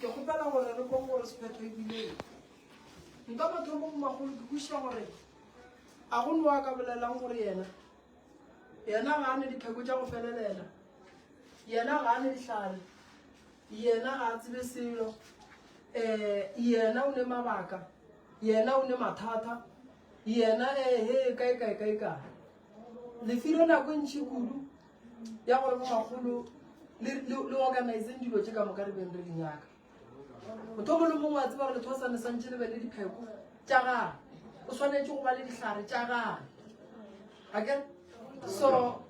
ke kgopela gore re bong gore sephetho ebileng nka batho mo magolo ke buša gore a go nowa ka bolelang gore yena yena ga a ne dipheko tša go felelela yena ga a ne dihlare yena ga a tsebe selo um yena o ne mabaka yena o ne mathata yena ehe eh, kae kae kae kae lefiro nako e ntšhi kudu ya gore bo magolo le organizeng dilo tše ka moka re beng re di nyaka motho mongwe le mongwe a tseba gore letho sane santse le be le dipheko tša gage o tshwanetse go ba le dihlare tša gage ake so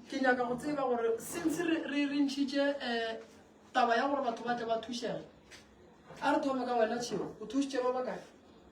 ke nyaka go tseba gore since re rentšhitše um eh, taba ya gore batho ba tle ba thušege a re thome ka wena tšheo o thušitše ba bakae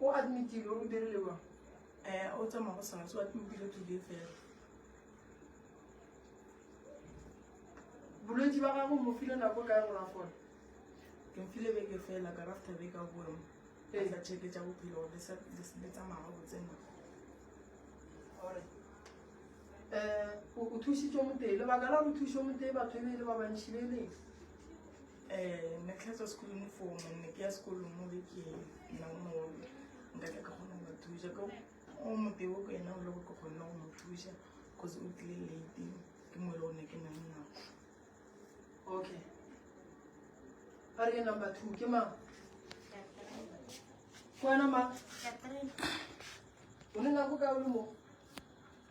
O admitile o dirile mang? Eh, o tsamaya go sona se o admitile today fela. Bolwetsi ba gago mo file nako kae gore a fole? Ke mfile beke fela ka rafta beke a boemo. Ee. Tla check tsa bophelo gore le sa le se- le tsamaya ga botse na. Alright. Eh, o o thusitswe motee. Lebaka la go thuswe motee batho e be e le ba bantšhi le leng. um ne tlhatswa sekolong mo foo monne ke ya sekolong mo be ke nna o mogolo nka tla ke kgona go ba thuša ke o moteo ko ena o le go ke kgonne go mo thuša cause o tlile late ke mo e le gone ke nna le nako okay ba re ke number two ke mang ke wena mang o ne nako ka o le mo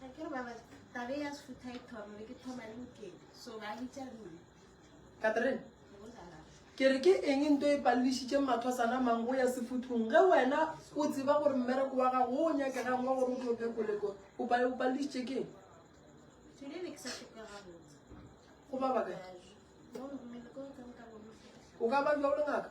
ga ke re ba ba tabe ya sefutha e thoma be ke thoma le mokedi so ba bitša nna katrine ke re ke eng nto e palelišitše mathwasana mang go ya sefuthong ge wena o tseba gore mmereko wa gago o nyakegang wa gore o tlo phekoleko o palelišitše keng go ba baka o ka ba bja o le ngaka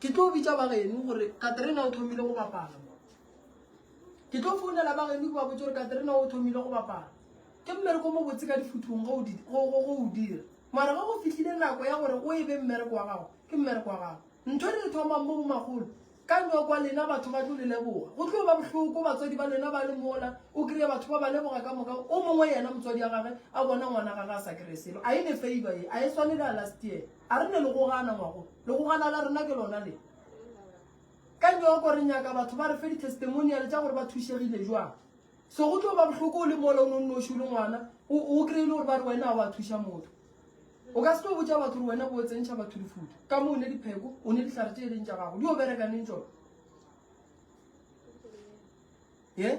Ke tlo bitša ba geno gore Katerina o thomile go bapala. Ke tlo founela ba geno ke ba botse gore Katerina o thomile go bapala. Ke mmereko mo botse ka difuthong go o dira. Mara ge go fihlile nako ya gore o e be mmereko wa gago, ke mmereko wa gago. Ntho re e thomang mo bomagolo, ka nwa kwa lena batho ba tlo le leboga. Go tlo ba bohloko batswadi ba lena ba le mola, o kry-e batho ba ba leboga ka moka, o mongwe yena motswadi ya gage a bona ngwana gage a sa kry-e selo. A e ne favor ye, a e swane le ya last year. A re ne legogana ngwago, legogana la rena ke lona le. Ka nyoko re nyaka batho ba re fe ditestimoniale tša gore ba thušegile jwang. So go tlo ba bohloko o le mola o ne o nnoši o le ngwana, o kry-e le gore ba re wena a wa thuša motho. O ka se tlo botša batho gore wena bo o tsentšha batho difuta ka mo o ne dipheko, o ne dihlare tše e leng tša gago, di o bereka neng tšona? Yeah?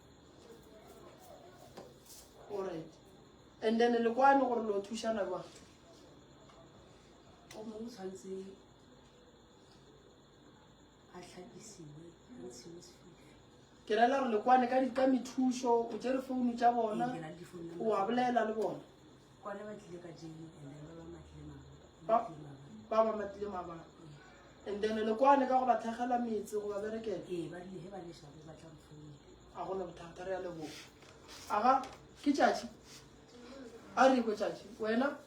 Alright. And then le kwano gore lo thušana jwang? O mongwe tshwanetse a tlhapisiwe a ntshiwe sefifi. Ke rela gore le kwane ka di ka methušo, o tšere founu tša bona, o a bolela le bona. Kwana ba tlile ka jeli and then ba ba matlile mabaka. Ba ba matlile mabaka. And then le kwane ka go ba thekgela metse go ba berekela. Ee, ba rile he ba le shabe ba tla mfounela. A go na bothata re ya leboga. Aga ke tšatši. A re ko tšatši. Wena?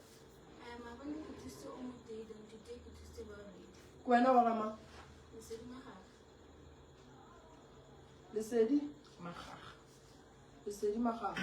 Ke wena wa gama? Lesedi magaga. Lesedi magaga.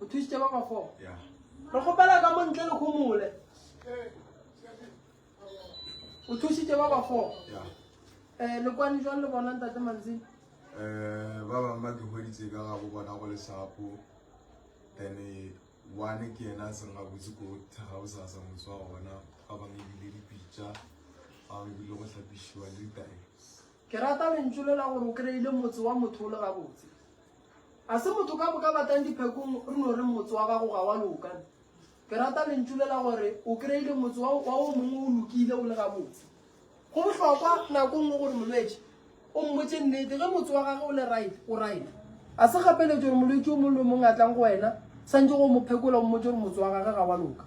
O thušitše ba ba four. Yeah. Re kgopela ka mo ntle le khomole. O thušitše ba ba four. Yeah. Eh le kwani jwang le bona ntate Manzini? Eh ba bang ba ke hweditse ka ga go bona go le shapo. Then eh, one ke yena se nga botse ko thega o sa sa motse wa gona ba bang ebile dipitša ba bang ebile go hlapišiwa le ditae Ke rata lentšu le la gore o kry-ile motse wa motho o le gabotse. A se motho ka boka batlang diphekong re no reng motse wa gago ga wa loka. Ke rata lentšu le la gore o kry-ile motse wa wa o mongwe o lokile o le gabotse. Go bohlokwa nako e nngwe gore molwetši o mmotse nnete ge motse wa gage o le right o right. A se kgapeletšo gore molwetši o mongwe le o mongwe a tlang go wena santše go mo phekola o mmotse gore motse wa gage ga wa loka.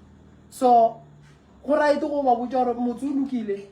So go right go ba botša gore motse o lokile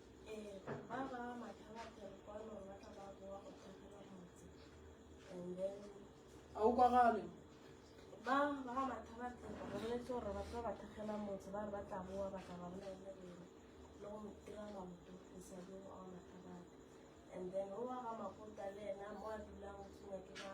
a o kwagale ba ba ga mathabatsa ba boletse gore batho ba ba thekgela motse ba re ba tla boa ba tla ba bolelele rena le go dira maoto go sa di go a mathabatsa and then o wa ga makota le ena mo a dulang o tshwenya ke ba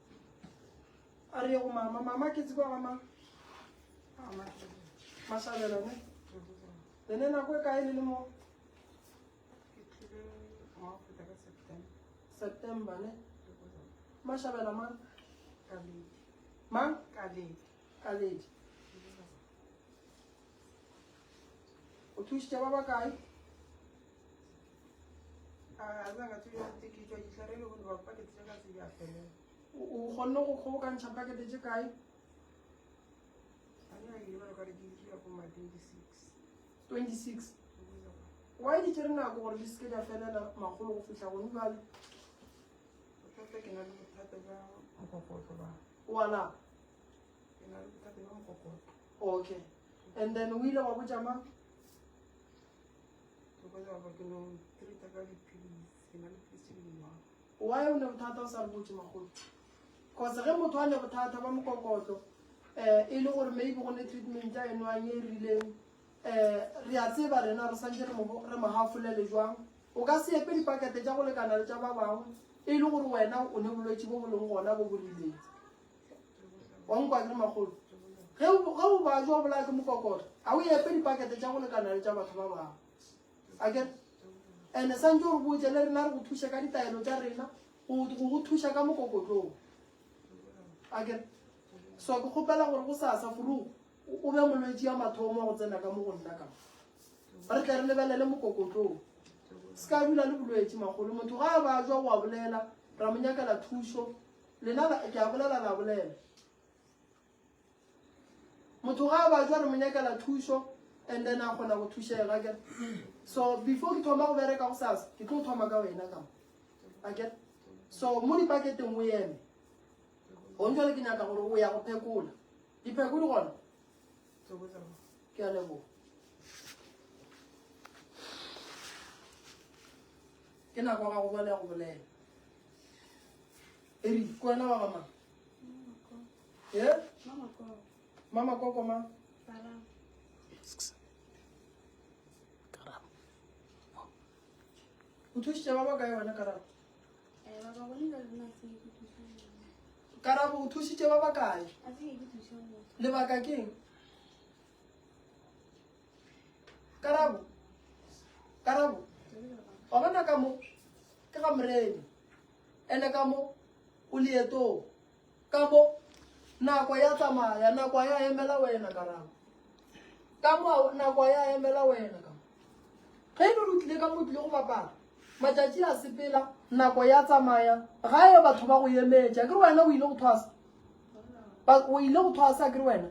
a re ye go mama mama ke tseba mama masabela ne ene nako e kae le le mo september ne mashabela mang mang kaledi kaledi o thušitše ba ba kae o kgonne go kgobokantšha pakete tše kae 26 why di tsere nako gore di seke di a felela magolo go fitlha gone jale wala okay and then o ile wa botša mang Why o ne bothata o sa re botse magolo? Cause ge motho a ne bothata ba mokokotlo eh e le gore maybe go ne treatment ya enwang e rileng eh re a tseba rena re santse re mo re mo hafolele jwang. O ka se epe dipakete tša go lekana le tša ba bangwe e le gore wena o ne bolwetši bo bo leng gona bo bo rileng. wa nkwane magolo ge o ba jo bolaya ke mokokore ga o epe dipakete tša go lekana le tša batho ba bangwe ake ande santse o re botse le rena re go thuša ka ditaelo tša rena go go thuša ka mokokotlong ake so ke kgopela gore go sasa furu o be molwetsi ya mathomo go tsena ka mo go nna ka re tle re lebelele mokokotlong se ka dula le bolwetsi magolo motho ga a ba jwa go a bolela ra mo nyakela thušo lena ke a bolela la bolela motho ga a batswa re mo nyakela thuso and then a kgona go thušega ke so before ke thoma go bereka go sasa ke tlo thoma ka wena ka ake so mo dipaketeng o eme gong jale ke nyaka gore o ya go phekola dipheko di gona ke a leboga Ke nako ga go bona ya go bolela. Eri, ke wena wa gama? Ye? Mama koko ma? O thušitše ba ba kae wena Karabo? Karabo o thušitše ba ba kae? Lebaka keng? karabo karabo wa bona ka mo ke ga morena ene ka mo o leetong ka mo nako ya tsamaya nako ya emela wena karabo ka mo nako ya emela wena ka ge e le re tlile ka mo tlile go bapala matšatši a sepela nako ya tsamaya ga e batho ba go emetša ke wena o ile go thwasa but o ile go thwasa kere wena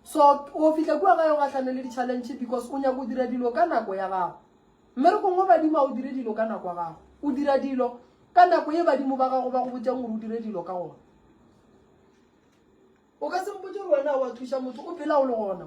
so o fitlha kua gae o gahlane le di-challenge because o nyako dira dilo ka nako ya gago mme re kongwe badimo a o dire dilo ka nako ya gago o dira dilo ka nako ye badimo ba gago ba go botjang gore o dire dilo ka gona o ka sempotse gore wena wa thuša motho o phela o le gona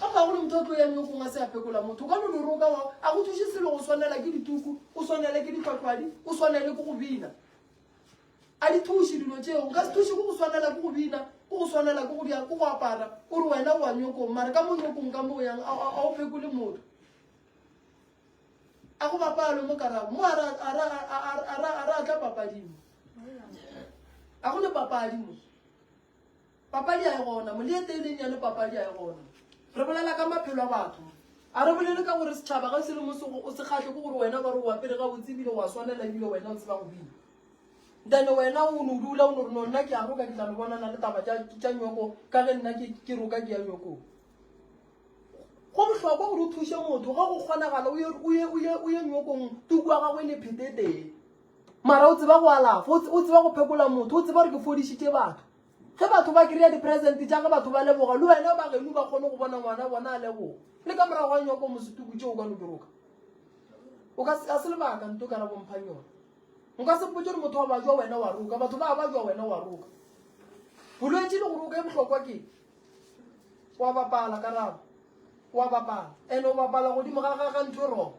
Ga bagolo motho o tlo yang yo gongwe a se a pekola motho ka lone roka wa a go thuše selo go swanela ke dituku o swanele ke ditlwatlwadi o swanele ke go bina a di thuše dilo tšeo nka se thuše go go swanela ke go bina go go swanela ke go bjang ke go apara o re wena wa nyokong mare ka mo nyokong ka mo o yang a o pekole motho a go bapalo mo karago mo a re a tla papadimo a go le papadi mo Papadi a e gona, Moliete e leng yane papadi a e gona. Re bolela ka maphelo a batho. A re bolele ka gore setšhaba ge se le mo se o se kgahle ke gore wena ba re o apere gabotse ebile o a swanela ebile wena o tseba go bina. Then wena o no dula o no re no nna ke a roka ke tla no bonana le taba tša tša nyoko ka ge nna ke ke roka ke ya nyokong. Go bohlokwa gore o thushe motho ge go kgonagala o ye o ye o ye o ye nyokong tuku ya gagwe e le phete teng. Mara o tseba go alafa, o tseba go phekola motho, o tseba gore ke fodišitše batho. Ge batho ba kry-a dipresente tša ge batho ba leboga, le wena ba genu ba kgone go bona ngwana bona a leboga. Le ka morago ga nyoko mosetuku tšeo o ka no di roka. O ka se, ga se lebaka nto ka la bomphang yona. Nka se mpotše gore motho wa bajwa wena wa roka, batho ba bajwa wena wa roka. Bolwetši le go roka e bohlokwa ke wa bapala karabo, wa bapala, ene o bapala godimo ga ga ga ntho e rogo.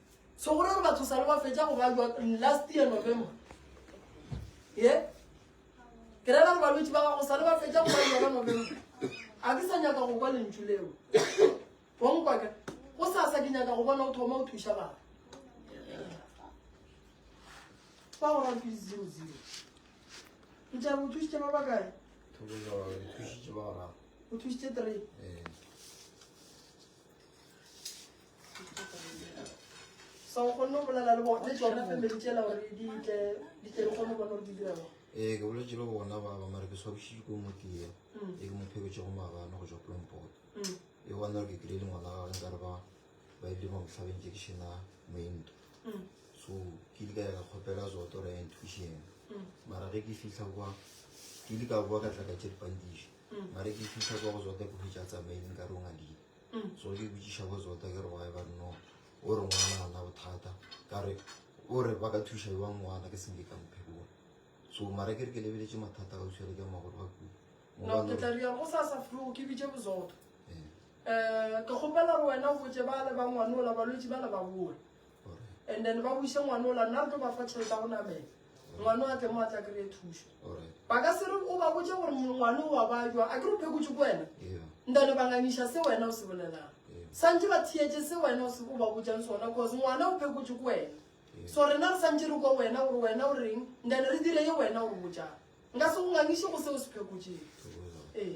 so gore re batho sale ba fetša go ba jwa last year november ye ke rela re balwetši ba gago sale ba fetša go ba jwa ka november a ke sa nyaka go kwa lentšu leo bonkwaka go sasa ke nyaka go bona o thoma o thuša batho ba go rantse di zero zero o tla bo thusitse ba ba kae o thusitse three ee. so o kgonne go bolela le bone tsona family tsela gore di tle di tle di kgone go bona gore di dira ee ke boletse le bona ba ba mare ke swabositse ko mo tee mm. e ke mo pheketse go maabane go tswa plompot mm. e bona gore ke kile le ngwana gagwe nkare ba ba ile mo motlhabeng ke kešena moento mm. so ke di ka ya ka kgopela zoto re ya intuition mara ge ke fitlha kwa ke di ka boa ka tla ka tse dipandiše mare ke fitlha kwa go zota ke hwetsa tsamaileng ka rong a dile so ke botsiša go zota ke re wa e ba nno o re ngwana a na bothata ka re o re ba ka thuša ba ngwana ke senge ka mphekona so mara ke re ke lebeletse mathata ka tshwere ka magolo ba kua no ke tla ria go sa sa fru ke bitse bozota eh ke gopela re wena o botse ba le ba ngwana o la balwetse ba le ba boa and then ba buše ngwane ola nna re tlo ba fa tšhelete ya go namela ngwane a tle mo a tla kry-e thušo ba ka se re o ba botse gore ngwane o wa bajwa a ke re phekotse ko wena ntane ba ngangiša se wena o se bolelang santse ba thietse se wena o ba botsang sona cause ngwana o phekotse ko wena so rena re santse re kwa wena gore wena o reng ntane re dire ye wena o botsang nka se go ngangiše go se o se phekotseng ee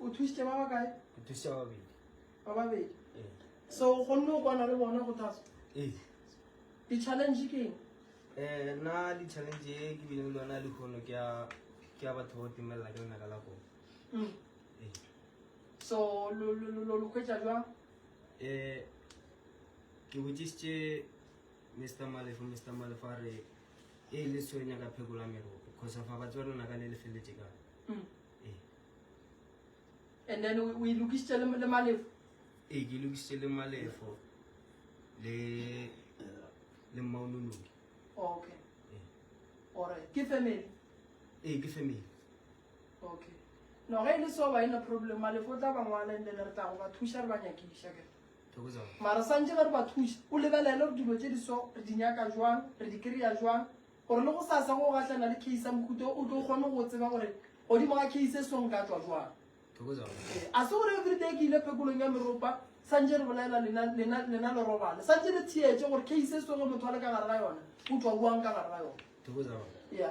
o thusitše ba ba kae ke thusitše ba babedi ba babedi ee so o kgonne go kwana le bona go thasa ee di-challenge ke eng Eh, nna di-challenge e ke bileng le yona le kgono ke ya ke ya batho go timelela ke lenaka la koo Mm. ee so lo- lo lo- lo- lo hwetša jwang um ke botsisitse Mister Malefo, Mister Malefo a re e le so nyaka phekola merope khosa fa batse ba lona ka le le feletse ka mm. eh. and then o e lokisitse le malefo ee ke lokisitse le malefo le le mmaonoloki okay eh. ore ke family ee ke family okay no ge e le so ba e na problem malefo o tla ba ngwala and then re tla go ba thuša re ba nyakiša ke mara santše ge re ba thuša o lebelele gore dilo tše di so re di nyaka jwang re di kry-a jwang gore le go sa sa go gahlana le case ya mohuta o tlo kgone go tseba gore godimo ga case e song ka tswa jwang ee, a se gore everyday ke ile phekolong ya meropa santše re bolela lena le robale santše le theetse gore case e songe motho a le ka gare ga yona o tswa boang ka gare ga yona ya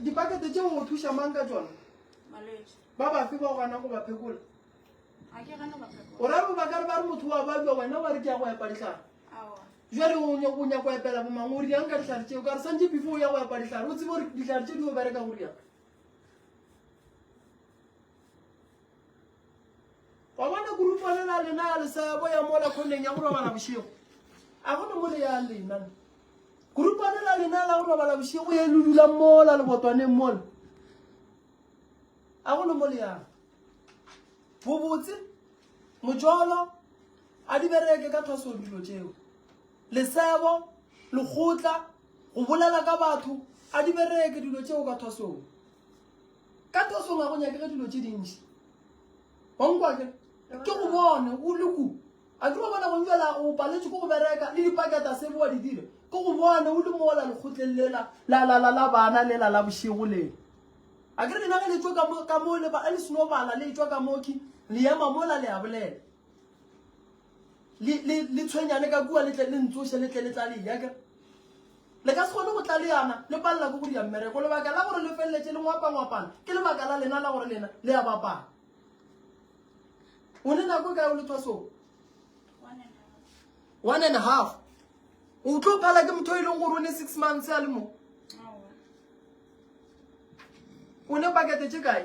dipakete tšeo o thuša mang ka tsona ba bafe ba gona go ba phekola o ra bo bakare ba re motho wa bajwa wena wa re ke ya go epa ditlhare jale o nyako go epela bomang o riang ka ditlhare tseo ka re santse before o ya go epa ditlhare o tsebe gore ditlhare tse di o bereka go riang wa bona gurupa le la lena le sa boya mo la khoneng ya go robala bošego a gona mo le ya lena gurupa le la lena la go robala bošego ye le dulang mola lebotwaneng mola a gona mo le yang bobotse mojolo a di bereke ka thwasong dilo tšeo lesebo lekgotla go bolela ka batho a di bereke dilo tšeo ka thwasong Ka tosong ga go nyakege dilo tše dintši. Wankwa ke? Ke go bone, o le ku. A ke ba bona go njwela o paletše ko go bereka le dipaketa sebe wa di dira. Ke go bone o le mola lekgotleng lela la la la la bana lela la bošego lela. A ke re lena ge le tšwa ka mo ka mo le ba le seno bala le tšwa ka moki le ema mola le a bolela. le le le tshwenyane ka kua le tle le ntsoše le tle le tlale ya ke le ka se kgone go tla le yana le palela ko go dira mmereko lebaka la gore le feleletse le ngwapangwapana ke lebaka la lena la gore lena le ya bapala o ne nako kae o le thwasong one and half o tlo phala ke motho e leng gore o ne six months a le mo o ne pakete tse kae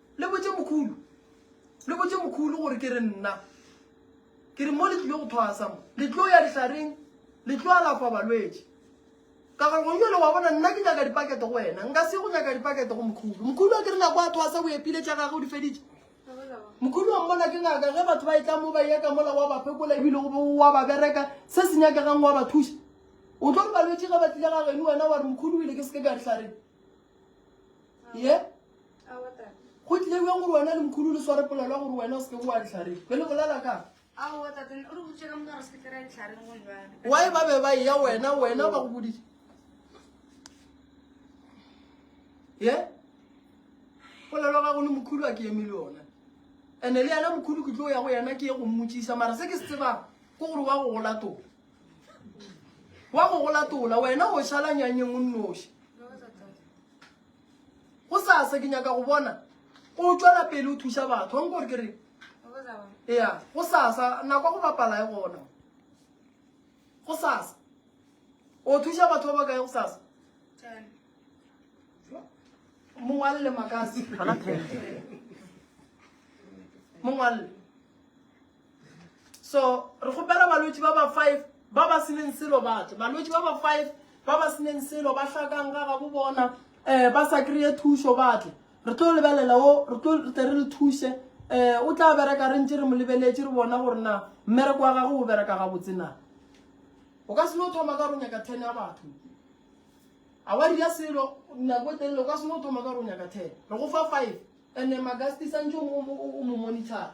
Le botše Mokhulu. Le botše Mokhulu gore ke re nna. Ke re mo le tlile go thwasa mo. Le tlo ya dihlareng. Le tlo alafa balwetši. Ka gore gongwe jalo wa bona nna ke nyaka dipakete go wena. Nka se go nyaka dipakete go Mokhulu. Mokhulu a ke re nako a thwasa o epile tša gage o di feditše. Mokhulu wa mmona ke ngaka ge batho ba e tla mo ba yeka mola wa ba phekola ebile wa ba bereka se se nyakegang wa ba thuša. O tlo re balwetši ge ba tlile ga geno wena wa re Mokhulu o ile ke se ke ka dihlareng. ye go tlile bjang gore wena le mokhudu le sware polelwa gore wena o seke boa ditlhareng be le bolela ka wae ba be ba eya wena wena ba go bodise ye polelo ga go le mokhudu a ke eme le yona and-e le yena mokhudu ke tlo ya go yena ke ye go mmotsisa mara se ke se tsebang ke gore wa go gola tona wa go go latola wena o šala nyanyeng o nnoši go sasa ke nyaka go bona o tšwela pele o thuša batho wa nkore ke re ya go sasa nako go bapala e gona go sasa o thuša batho ba ba kae go sasa mongwalle makasi mongwalle so re kgopela balwetši ba ba five ba ba seneng selo batle balwetši ba ba five ba ba seneng selo ba hlakang ga gabo bona um eh, ba sa kry-e thušo batle re tlo lebelela o re tlo tle re le thuše um o tla bereka re ntse re mo lebeletše re bona gore na mmereko wa gage o bereka gabotse na o ka seno thoma ka ronya ka ten ya batho a wa dira selo nako telele o ka seno thoma ka ronya ka ten re go fa five and-e magasti santse o mo monitora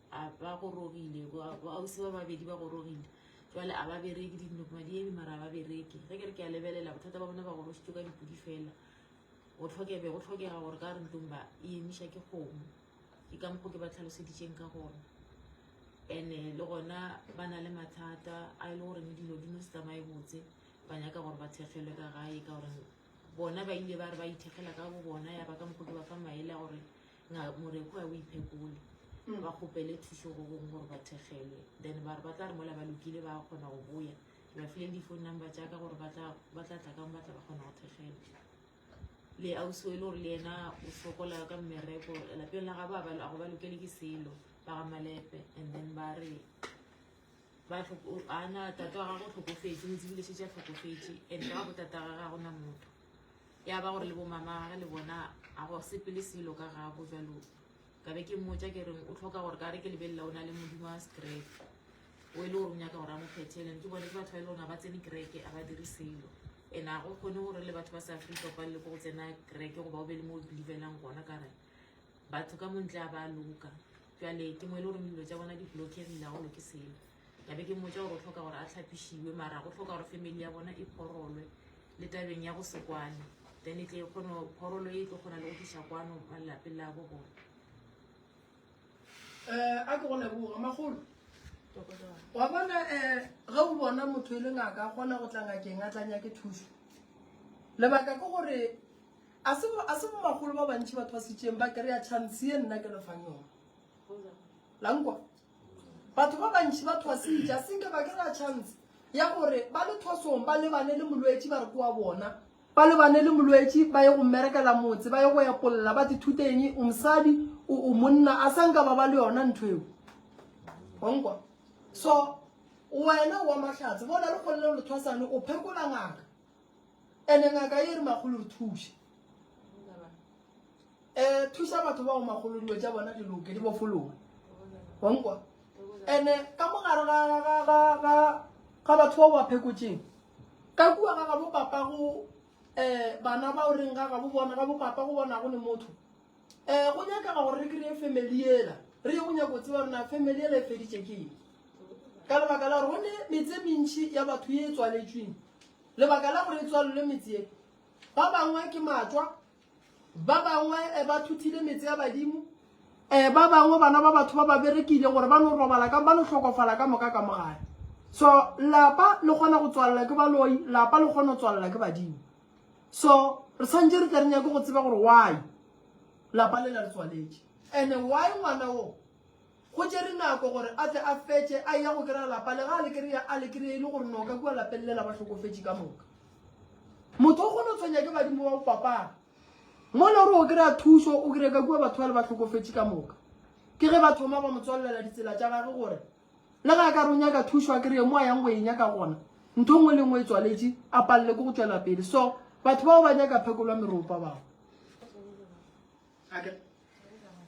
a ba gorogile boausi ba babedi ba gorogile jale a ba bereke dinokmadiedi mara a ba bereke ge ke re ke a lebelela bothata ba bone ba gorositse ka dipodi fela go tlhokebe go tlhokega gore ka re ntlong ba e emiša ke kgomo ke ka mokgo ke ba tlhaloseditseng ka gona and-e le gona ba na le mathata a e le goreng dilo di no se tsamaye botse ba nyaka gore ba thekgelwe ka gae ka gore bona ba ile ba re ba ithekgela ka bo bona ya ba ka mokgo ke ba fa maele a gore Nga Moreku a o iphekole ba kgopele thušo go bong gore ba thegelwe then ba re ba tla re mola ba lokile ba kgona go boya. Ke ba file le di-phone number tša ka gore ba tla ba tla tla kang ba tla ba kgona go thegelwa. Le ausi o e le gore le yena o sokola ka mmereko lapeng la gabo a ba a go ba lokele ke selo ba ga Malepe and then ba re ba tlhoko ana tata wa gagwe o tlhokofetše o tsebile šetše a tlhokofetše and ka ga botata ga ga gona motho. ya ba gore le bomama gage le bona a go sepele selo ka gago jalo ka be ke mmotsa ke reng o tlhoka gore ka re ke lebelela o na le modimo wa sekereke o e le gore o nyaka gore a mo phethelang ke bone ke batho ba e le goreng ba tsene kereke a ba dire selo and a go kgone gore le batho ba sa afrika ba le ko go tsena kereke goba o be le mo o believelang gona ka re batho ka montle a ba loka jale ke mo e le goreng dilo tsa bona di blockegile a go loke selo ka be ke mmotsa gore o tlhoka gore a tlhapišiwe mara go tlhoka gore family ya bona e phorolwe le tabeng ya go se kwane then e tle e kgone phorolo e tlo kgona le go tlisa kwano ba lelapeng la bo bona um a ke go leboga magolo wa bona um eh, ge o bona motho e le ngaka a kgona go tla ngakeng a tlanya ke thuso lebaka ke gore a se bo magolo ba bantšhi batho ba setseng ba kry-a chance e nna ke lefang yone lankwa batho ba bantši ba thwasitša senke ba kera chance ya gore ba le thwasong ba lebane le molwetši ba re kowa bona ba lebane le molwetši ba ye go mmerekela motse ba ye go epolla ba tithuteng o mosadi o monna a sa nka ba ba le yona ntho eo onkwa so wena wa mahlatse bo na le kgollelo le thwasane o phekola ngaka ene ngaka e re magolo re thuse E thuša batho bao magolo dilo tša bona di loke di bofologe. Wa nkwa? Ene ka mogare ga ga ga ga ga batho bao ba phekotšeng ka kua ga ga bopapa go eh bana ba o reng ga ga bo bona ga bopapa go bona go ne motho eh go nyakega gore re kry-e family ela re ye go nyako go tseba rena family ela e feditše ke eng ka lebaka la gore go ne metse mentšhi ya batho ye e tswaletšweng lebaka la gore e tswalelwe metse ye ba bangwe ke matswa Ba bangwe eh, ba thuthile metse ya badimo eh, ba bangwe bana ba batho ba ba berekile gore ba no robala ka ba no hlokofala ka moka ka mogae so lapa le kgona go tswalela ke baloi lapa le kgona go tswalela ke badimo so re tshwanetse re tle re nyake go tseba gore why lapa le la le tswaletse and why ngwana o Go tšere nako gore a tle a fetše a eya go kry-a lapa, lega a le kry-a, a le kry-a e le gore no ka kua lapeng lela ba hlokofetše ka moka. Motho o kgona go tshwenya ke badimo ba go fapana. Mo e le gore o kry-a thušo, o kry-a ka kua batho bale ba hlokofetše ka moka. Ke ge ba thoma ba mo tswalelela ditsela tša gage gore le ge a ka re o nyaka thušo a kry-e mo a yang go e nyaka gona, ntho e nngwe le e nngwe e tswaletše, a palelwe ke go tšwela pele. So batho bao ba nyaka phekolwa meropa bao. ake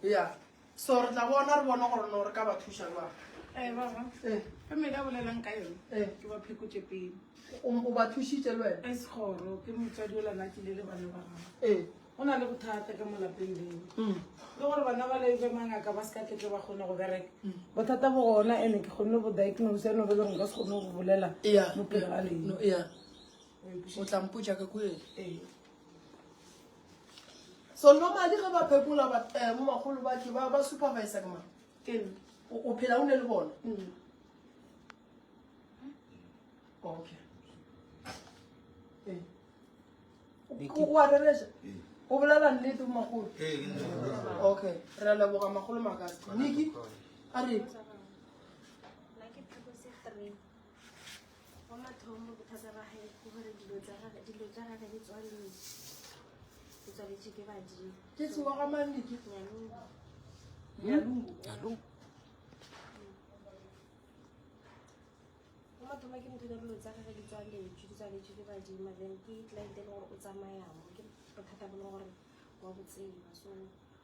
ya so re tla bona re bone gore no re ka ba thuša jwang ee eh, baba ee eh. ka mele a bolelang ka yone ee eh. ke ba phekotše pele o ba thušitše le wena e segoro ke motswadi o lana kile le bana ba gago ee go na le bothata ka molapeng leo mm. le gore bana ba lebe mangaka ba se ka ketle ba kgone go bereka mm. bothata bo gona ene ke kgonne go diagnose eno be leng ka se kgone go bolela mo pele ga leno o tlampotsa ka kuele so normally ge ba phekola eh, mo bagolo ba ke ba supervise ke mang o phela o ne le bona mm. okay o a rereša o bolela nnete mo magolo okay re leboga magolo makase niki a re Wa mathomo bothata ba gae ke gore dilo tsa gage dilo tsa gage di tswaletswe di tswaletswe ke badimo ke tsewa ga manne ke nyalungu nyalungu wa mathomo ke motho dilo tsa gage di tswaletswe di tswaletswe ke badimo then ke client e le gore o tsamayamo ke bothata bo le gore wa botseba so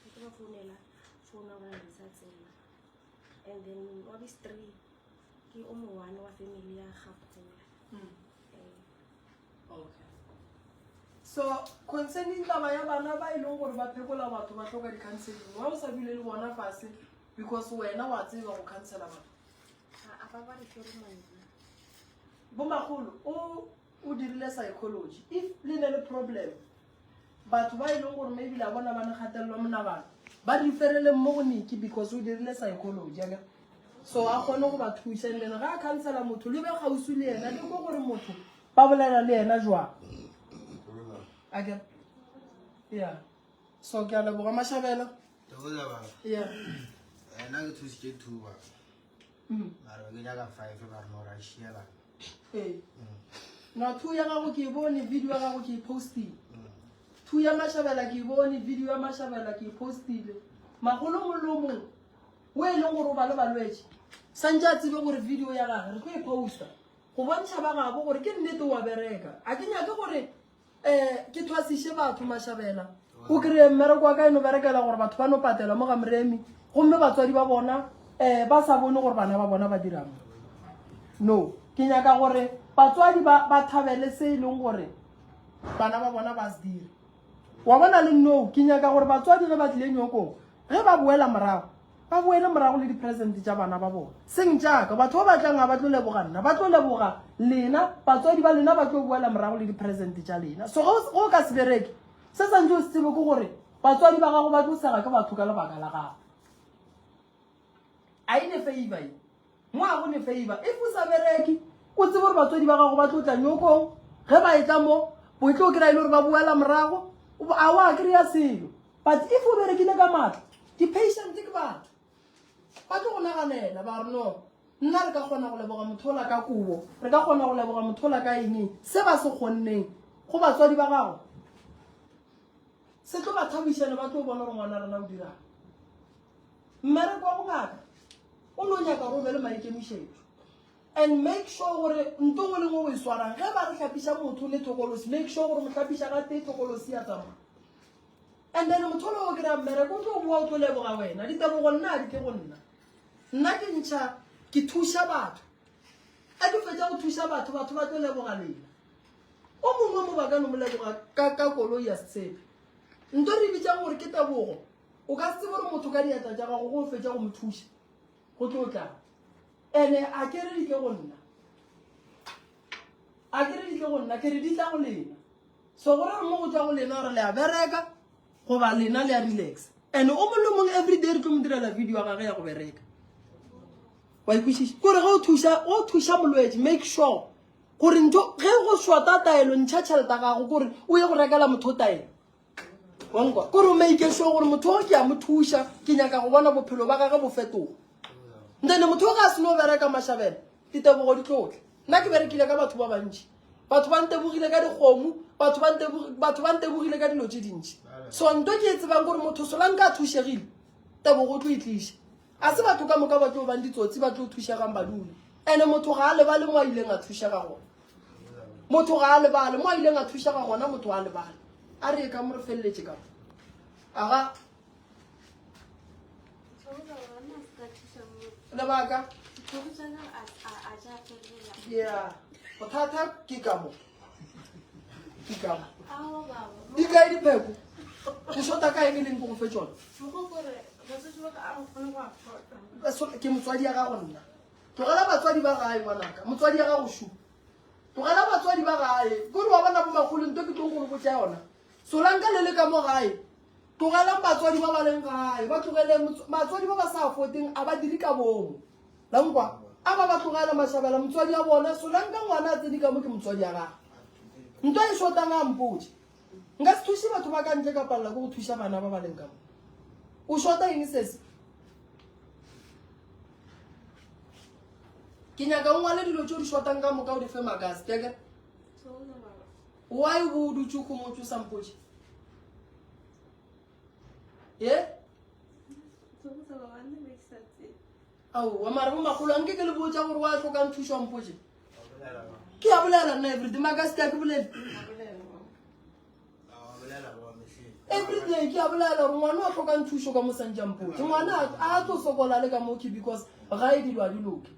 ke tlo ba founela founa gore ga sa tsena and then wa bistree ke o mo one wa family ya gapola mm. eh. okay so concerning taba ya bana ba e leng gore ba phekola batho ba tlhoka di-counseling wa o sa dule le bona fase because wena wa tseba go counsela batho bo magolo o O dirile psychology. If le ne le problem, batho ba e leng gore maybe la bona ba le kgatelelo monagano, ba referele mo go Nicky because o dirile psychology. Aka? So a kgone go ba thusa. And then ga a counselor motho, le be gausi le yena, le mo gore motho ba bolela le yena jwang. Aka? Yeah. So ke a leboga Mashabela. Ke go leboga. Yeah. Ena ke thusitše thuba. mm. mara ke nyaka five ka rena ora shiela ee mm. na two ya gago ke bone video ya gago ke postile mm. two ya mashabela ke bone video ya mashabela ke postile magolo molomong o e leng gore o ba le balwetse santse a tsebe gore video ya gage re tlo e posta go bontšha ba gabo gore ke nnete wa bereka a ke nyake gore um ke thwasiše batho mašabela o kry-e mmereko wa ka e no berekela gore batho ba no patelwa mo ga moremi gomme batswadi ba bona um ba sa bone gore bana ba bona ba dirang no ke nyaka gore batswadi ba thabele se e leng gore bana ba bona ba se dire wa bona le no ke nyaka gore batswadi ge ba tlile nyokong ge ba boela morago Ba boele morago le diperesente tša bana ba bona. Seng tša ka. Batho ba ba tlang ga ba tlo leboga nna. Ba tlo leboga lena. Batswadi ba lena ba tlo boela morago le diperesente tša lena. So ge o ka se bereke, se santse o se tsebe ke gore batswadi ba gago ba tlo sega ke batho ka lebaka la gago. A e ne favor ye. Mo a go ne favor. If o sa bereke, o tsebe gore batswadi ba gago ba tlo tla nyokong. Ge ba etla mo, bo tlo kry-a e le gore ba boela morago. A wa kry-a selo. But if o berekile ka matla, di-patient ke batho. Ba tlo go naganela, ba re no. Nna re ka kgona go leboga mothola ka kobo. Re ka kgona go leboga mothola ka eng. Se ba se kgonneng go batswadi ba gago. Se tlo ba thabiša ne ba tlo bona gore ngwana rena o dirang. Mmereko wa bongaka o no nyaka gore o be le maikemišetšo and make sure gore nto ngwe le ngwe o e swarang ge ba re tlhapiša motho le tlokolosi make sure gore motlhapiša ga tee tlokolosi ya tsamaya and then motho le o kry-a mmereko o tlo boa o tlo leboga wena ditebogo nna a di tle go nna nna ke ntšha ke thuša batho a ke fetsa go thuša batho batho ba tlo leboga lela o mongwe mo ba ka no mo leboga ka koloi ya setshepe nto re bitsang gore ke tebogo O ka se tsebe gore motho ka diatla tša gago go fetša go mo thuša go tlo tla ene a ke re di tle go nna a ke re di tle go nna ke re di tla go lena so go re mo go tla go lena gore le a bereka goba lena le a relax and o mollo mong every day re tlo mo direla video ya gage ya go bereka wa ikwešiša kore ge o thuša o thuša molwetse make sure gore ntho ge go shota taelo ntšha tšheleta gago kore o ye go rekela motho taelo ko re o make sure gore motho o ke a mo thuša ke nyaka go bona bophelo ba gage bo fetoga nthene motho o ga se no bereka mashabela ditebogo di tlotle nna ke berekile ka batho ba bantši batho ba ntebogile ka dikgomo batho ba ntebogile ka dilo tse dintši so nto ke e tsebang gore motho solang ka thušegile tebogo o tlo e tliša A se batho ka moka ba tlo bang ditsotsi ba tlo thušegang ba dule? Ene motho ga a lebale mo a ileng a thušega gona. Motho ga a lebale mo a ileng a thušega gona, motho a lebale. A re e ka mo re feleletše ka aga lebaka ya bothata ke ka mo dikae dipheko ke shota ka eng e leng ko go fe tsone ke motswadi ya gago nna tlogela batswadi ba gae ngwanaka motswadi ya gago shupa tlogela batswadi ba gae kore wa bona bomakgolo nto ke tlo go go tsa yona solanka le le ka mo gae tlogelang batswadi ba ba leng gae ba tlogele batswadi ba ba sa foteng a ba dire ka bomo La nkwa? A ba ba tlogela mašabela motswadi ya bona, solanka ngwana a tsene ka mo ke motswadi ya gage. Nto e shotang a mpotše. Nka se thuše batho ba ka ntle ka palela ke go thuša bana ba ba leng ka mo. O shota eng sese? ke nyaka o ngwale dilo tse o di shotang ka moka o di fe makase teke why o bo o dutse go motse o sa mpotše ye aowa mare bo magolo anke ke le botsa gore wa tlhokang thuso mpoje ke ya bolela nna everyday maka seta ke bolele everyday ke ya bolela gore ngwana wa tlhokang thuso ka mosantja mpoje ngwana a tlo sokola le ka moke because ga e dilwa di loke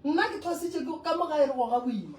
nna ke thositse ka mo ga e re goga boima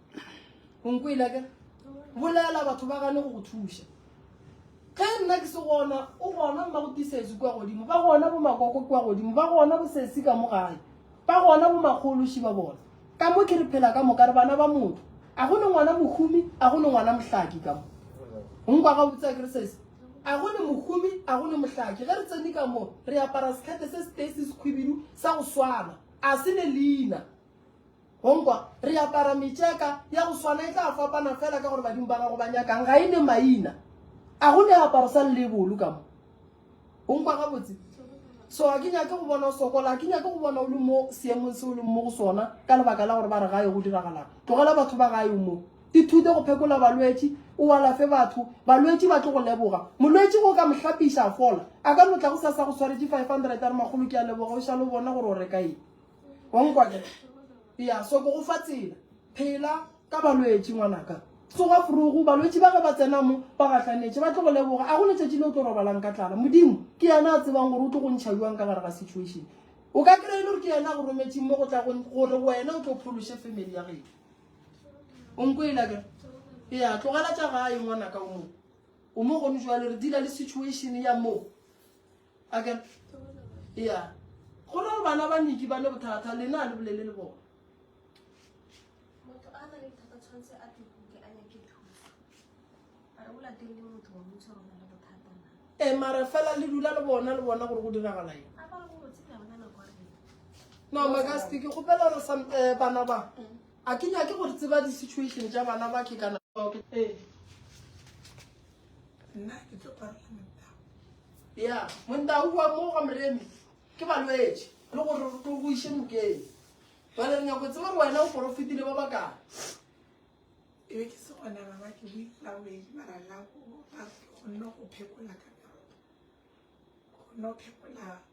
onkwela ke bolela batho ba gane go go thuša ge nna ke se gona o gona mma go tisesi kwa godimo ba gona bo makoko kwa godimo ba gona bo sesi ka mo gae ba gona bo makgološi ba bona ka mo ke re phela ka moka re bana ba motho a go ne ngwana mohumi a go ne ngwana mohlaki ka mo nkwa ga botsa ke re sese a go ne mohumi a go ne mohlaki ge re tsene ka mo re apara sekete se se tee se sekhwibidu sa go swana a se ne leina Go nkwa, re apara metšeka ya go swana, e tla fapana fela ka gore badimo ba gago ba nyakang, ga e ne maina. A go ne aparo sa lebolu ka mo? O nkwa gabotse? So a ke nyake go bona o sokola, a ke nyake go bona o le mo seemong se o leng mo go sona ka lebaka la gore ba re gae go diragalang. Tlogela batho ba gae mo. Ithute go phekola balwetši, o alafe batho. Balwetši ba tlo go leboga. Molwetši go ka mohlapiša a fola. A ka no tla go sa sa go tshwaretše 500 a re makgolo ke a leboga o šale o bona gore o reka eng. Wa nkwa ke re? Eya, so ke go fa tsela. Phela ka balwetši, ngwanaka. Tsoga forogo, balwetši ba ge ba tsena mo, ba gahlanetše, ba tlo go leboga. A go letšatši le o tlo robalang ka tlala? Modimo ke yena a tsebang gore o tlo go ntšha bjang ka gare ga situation. O ka kry-e le gore ke yena a go rometšeng mo go tla gore wena o tlo phološe family ya geno. O nkwela ke re? Eya, tlogela tša gae ngwanaka o moo. O mo gone jwale re dila le situation ya moo. Aka ya go na le bana ba niki ba ne bothata le na le bolele le bona motho a na le bothata tshwanetse a tekuke a nyake thuso a re o lateng le motho wa motho rona le bothata na e mara fela le dula le bona le bona gore go diragala eng a ba go botse ka bona nako re no magasti ke gopela re sam eh, bana ba a ke nyake gore tseba di-situation tša bana ba ke kana ee nna ke tlo parela ya montau wa mo ga moremi ke balwetši le gore re tlo go iše nokeng jale re nyako tseba gore wena o porofetile ba bakang e be ke se gona baba ke boitlawedi mara la go ba ke kgonne go phekola ka meroto kgonne go phekola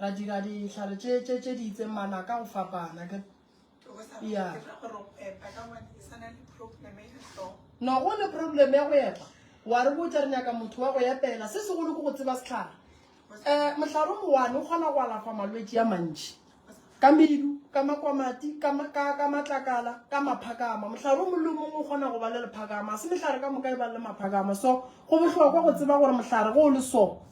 Ra dira dihlare tše tše tše di itseng mala ka go fapana ke ya. No go le problem ya go epa. Wa re botsa re nyaka motho wa go epela. Se segolo ke go tseba setlhare. Eh mohlare o one o kgona go alafa malwetsi ya mantši. Ka medu, ka makwamati, ka ka ka matlakala, ka maphakama. Mohlare o molemo o kgona go ba le lephakama. Se mehlare ka moka e ba le maphakama. So go bohlokwa go tseba gore mohlare go le so.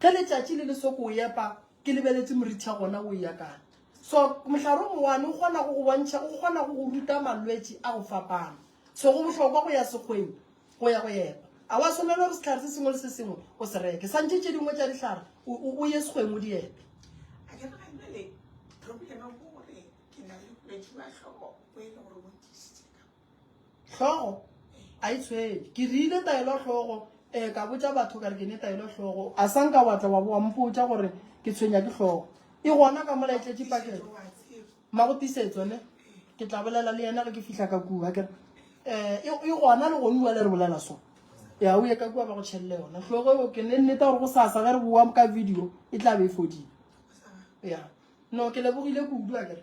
Ge letšatši le le soko o epa, ke lebeletše moritha gona o eya kae. So, mohlare o mowane o kgona go go bontšha, o kgona go go ruta malwetši a go fapana. So, go bohlokwa go ya sekgweng go ya go epa. A wa swanela gore sehlare se sengwe le se sengwe o se reke. Santše tše dingwe tša dihlare o, o, o ye sekgweng o di epe. A ke nagane bjale problema ke gore ke na le bolwetši ba hloko bo e le gore bo ntisitse ka. Hlogo a e tshwele. Ke rile taelo hlogo, ee ka botša batho ka re ke ne taelo hlogo. A sa nka wa tla wa bo wa mpotša gore ke tshwenya ke hlogo. E gona ka mola e tletše pakeng. Ma go tisetso ne? Ke tla bolela le yena ge ke fihla ka kua. Ke re, e, e gona le gone bua le re bolela so. Ya o ye ka kua ba go tšhelele yona. Hlogo eo ke ne nneta gore go sasa ge re boa ka video e tla be e fodile. Ya. No ke lebogile kudu a ke re.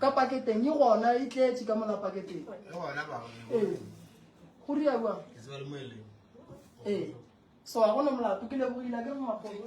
ka paketeng e gona e tletše ka mola paketeng ee go riaua ee so ga gona molato ke lebogile ke mmakgolo